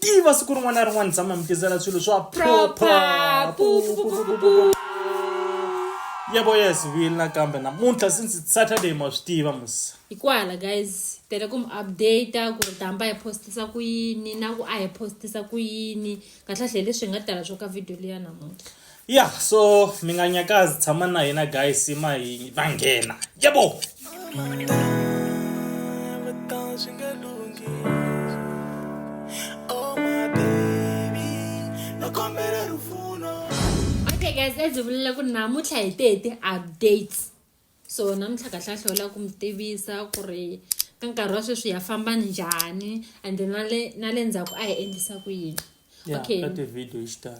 tiva siku rin'wana na rin'wana tshama mi tizela swilo swa proper yebo yes vile nakambe namuntlha since it's saturday ma swi tiva musa hi kwala guys tele ku mi updata ku ri damba hi postisa ku yini na ku a hi postisa ku yini kahlahle hi leswi hi nga tala swo ka video liya namuntlha ya so mi nga nyakazi tshama na hina guys ma hi va nghena yebo Okay guys, as you will look now, much I did updates. so namuntlha kahle kahle u lava ku mi tivisa ku ri ka nkarhi wa sweswi ya famba njhani and na le na le ndzhaku a hi endlisa ku yini okay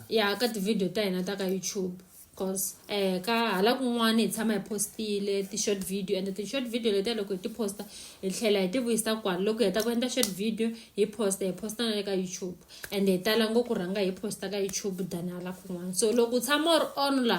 ya ka tivhidiyo ta hina ta ka youtube cause um ka hala kun'wana hi tshama hi postile ti-short video and ti-short video letiya loko hi ti posta hi tlhela hi ti vuyisa kwala loko hi heta ku endla short video hi posta hi posta na le ka youtube and hi tala ngopfu rhanga hi posta ka youtube than hala kun'wana so loko u tshama u ri on la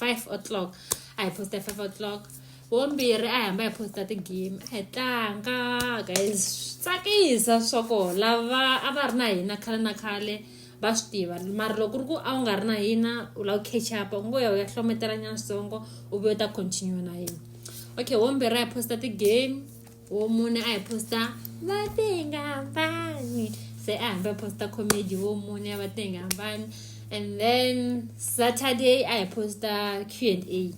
five o'clock a hi posta hi five o'clock vombirhi a hi hamba hi posta ti-game a hi tlanga ka hi tsakisa swa ko lava a va ri na hina khale na khale va swi tiva mara loko ri ku a wu nga ri na hina u lava ku catch up u ngo ya u ya hlometela nyansongo u vuyo ta continue na hina okay wombirhi a hi posta ti-game wo mune a hi posta va tenga hambani se a hambi a posta comedy wo mune a va tenga hambani and then saturday a hi posta q and a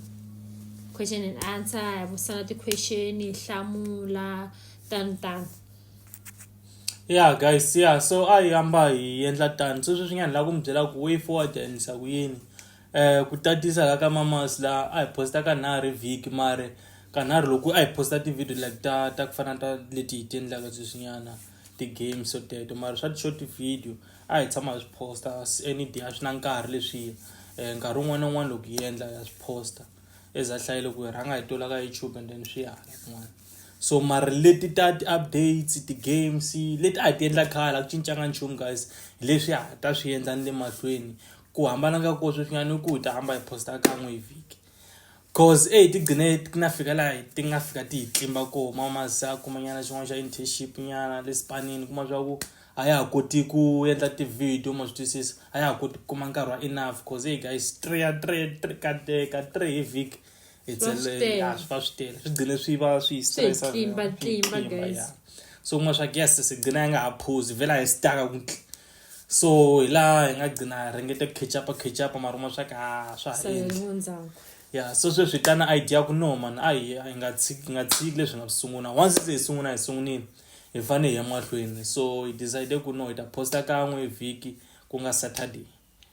question and answer hi vusana ti-question hi hlamula tano tano ya guys ya so a hi hamba hi endla tani sweswi swi nga ni lava ku mi byela ku way forward hi endlisa ku yini eh ku tatisa la ka mamas la a hi posta ka nharhu vhiki mare ka nharhu loko a hi posta ti-video like ta ta ku fana ta leti hi ti endlaka sweswinyana ti-games so teto mara swa ti-short video a hi tshama hi swi posta any day a swi na nkarhi leswiya um eh, nkarhi wun'wana na wun'wana loko hi endla ya swi posta as a hlaye loko hi rhanga hi tola ka youtube and then swi ya hala kun'wana so mara leti ta ti-updates ti-games leti a hi ti endla khale a ku cincanga nchumu guys hi leswi a ta swi endla ni le mahlweni ku hambana ka kona sweswi nga ni ku ta hamba hi posta kan'we hi vhiki cause e hi ti gcine ti na fika laha ti nga fika ti hi tlimba ko ma masa kumanyana xin'wana xa internship nyana le spanini kuma swa ku a ya ha koti ku endla ti-video ma swi twisisa a ya ha koti ku kuma nkarhi wa enough cause hey guys three ya three three ka teka three hi vhiki hi tselele ya swi va swi tele swi gcine swi va swi stressa so kuma swa ku yes sigcina yi nga ha phuzi vhela hi staka ku so hi laha hi nga gcina ringete ku khechapa khechapa maruma swa ka ah, swa ha endli ya so sweswi hi ta na idea ku no mani a hi hi nga tshiki nga tshiki leswi nga swi sungula once se hi sungula hi sungunile hi fane hi ya mahlweni so hi decide ku no hi ta posta kan'we hi vhiki ku nga saturday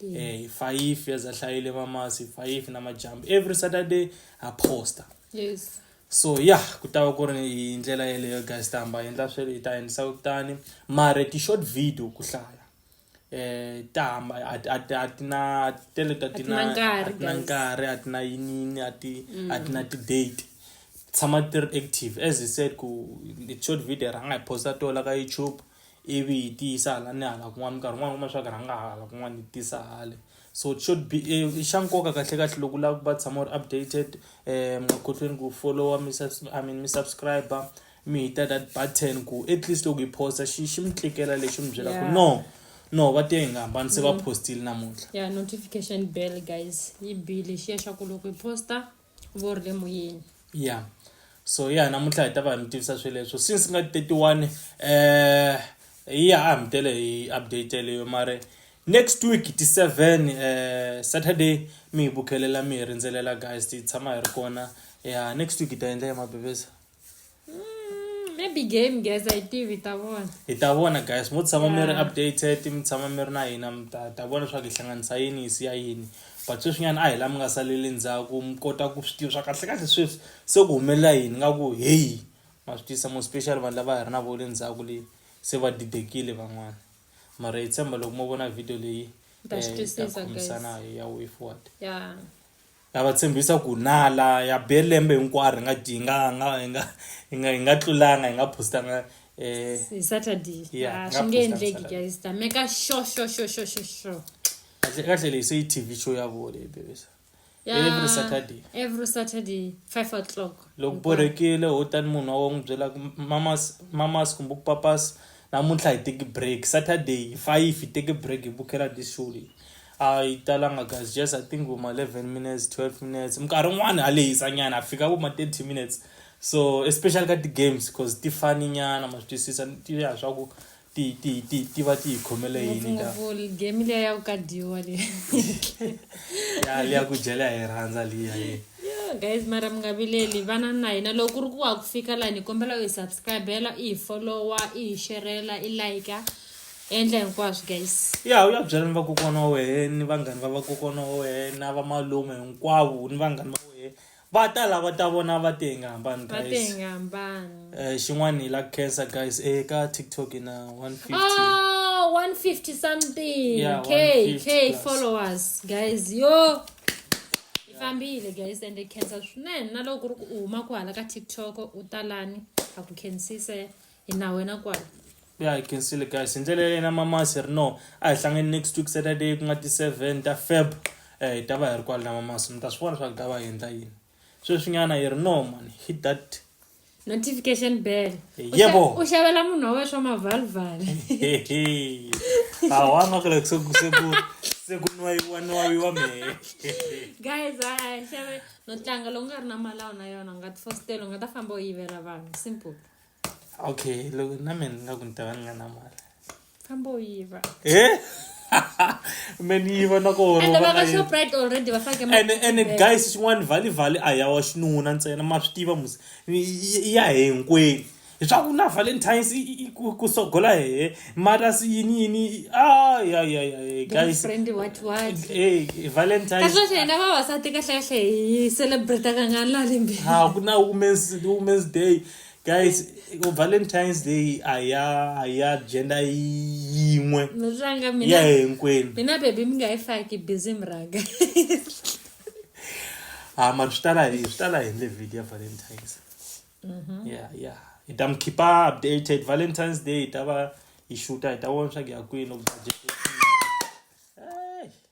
um hi fayifi as a hlayile vamasi hi fayifi na majambu every saturday ha posta yes so ya yeah, ku ta va ku ri hi ndlela yeleyo guys ta hamba endla swi hi ta endlisa kutani mare ti-short video ku hlaya eh ta hamba a ti na tele ta ti na nkarhi a ti na yinini a ti a ti na mm. ti-date tshama ti ri active as i said ku short video rhanga hi posta tola ka youtube ivi yi tiyisa hala ni hala kun'wana minkarhi yin'wana u kuma leswaku rhanga hala kun'wana yi tisa hale so it should be i xa nkoka kahle kahle loko u lava ku va tshama u ri updated um makhohlweni ku followa mi I mean mi subscriber mi hita that button ku at least loko hi posta xi xi mi tlikela lexi mi byelaka yeah. no no va te hi nga hambani se va mm. postile namuntlha ya notification bell guys yi bile xi ya xa ku loko hi posta vo ri le moyeni ya so ya namuntlha hi ta va hi mi tivisa sweleswo since nga 31 eh ya a mi tele hi update leyo mare next week ti 7 eh saturday mi hi bukhelela mi hi rindzelela guys ti tshama hi ri kona ya next week hi ta endla ya mabebesa Mm, maybe game guys a yi tivi ta vona hi ta vona guys mo tshama mi ri Yeah. updated mi tshama mi ri na hina mi ta ta vona leswaku hi hlanganisa yini hi siya yini but sweswinyana a hi la mi nga saleli ndzhaku mi kota ku swi tiva swa kahle kahle sweswi se ku humelela yini nga ku heyi ma swi tisa mo special vanhu lava hi ri na vo le ndzhaku leyi se va didekile van'wana mara hi tshemba loko mo vona video leyi Ta eh, swi hi ta twisisa, guys. khomisana hi ya way forward ya Na va tshembisa ku nala ya be lembe hinkwaro hi nga dyi hi nga nga hi nga hi nga hi nga tlulanga hi nga postanga eh Hi Saturday. Yeah, Ah, nga swi nge post on endleki Saturday. guys. Ta meka sho sho sho sho sho sho. kahle kahle leyi se yi TV show ya vona leyi bebisa Ya, Every Saturday. Every Saturday 5 o'clock. loko borhekile ho tani munhu wa n'wi byela ku mamas mamas kumbe ku papas namuntlha hi teki break saturday hi five hi teke break hi bukela this show leyi a yi talanga guys just i think vuma 11 minutes 12 minutes minkarhi yin'wana a lehisa nyana a fika vuma 30 minutes so especially ka ti-games because ti fani nyana ma swi twisisa ti ya swa ku ti ti ti ti va ti yi khomele yini game liya ya ku ka dyiwa leyi ya liya ku dyela hi rhandza liya ye guys mara mi nga vileli vana na hina loko ku ri ku wa ku fika lani hi kombela u hi subscribela i hi followa i hi xerela i like endla hinkwaswo guys ya u ya byela ni vakokwana wa wena ni vanghani va vakokwana wa wena va malume hinkwavo ni vanghani va wena va ta lava ta vona va te hi nga hambani va te hi nga hambani um xin'wana hi la khensa guys eka tiktok hi na one fifty oh, one fifty something yeah, k k followers guys yo hi fambile guys and hi khensa swinene na loko ku ri ku u huma ku hala ka tiktok u talani ha ku khensise hi na wena kwala ya hi khensile guys hi ndlela yena mamasi ri no a hi hlangeni next week saturday ku nga ti-seven ta feb um eh, hi ta va hi ri kwala na mamasi mi ta swi vona swa ku ta va hi endla yini sweswinyana yi ri no mani hit that notification bell yebo u xavela munhu wa wena swa mavalval awanga kule sekunwayiwanwayiwa mehe guys xave no tlanga loku nga ri na malawu na yona u nga ti fositela u nga ta famba u yivela vanhu simple okay loko na mina ni nga ku ni ta va ni nga na mali famba u yiva e me ni yiva na and va ka shoprite already va fake and and guys xin'wana vhali vhali a ya wa xinuna ntsena ma swi tiva musi ya hinkwenu leswaku na valentines ku sogola hehe mara si yini yini ayayayayguysvalentinesxina vavasati kahlekahle hi celebrate kangani lalimbiha ku na womens womens day guys ku valentines day a ya a ya gender yin'we Ranga ya mina. hinkwenu Mina baby mi nga yi faki busy mranga. ha mani swi tala hi swi tala hi ndle video ya valentines ya ya hi ta mi khipa updated valentines day hi ta va hi xuta hi ta vona swa ku ya kwini loko budget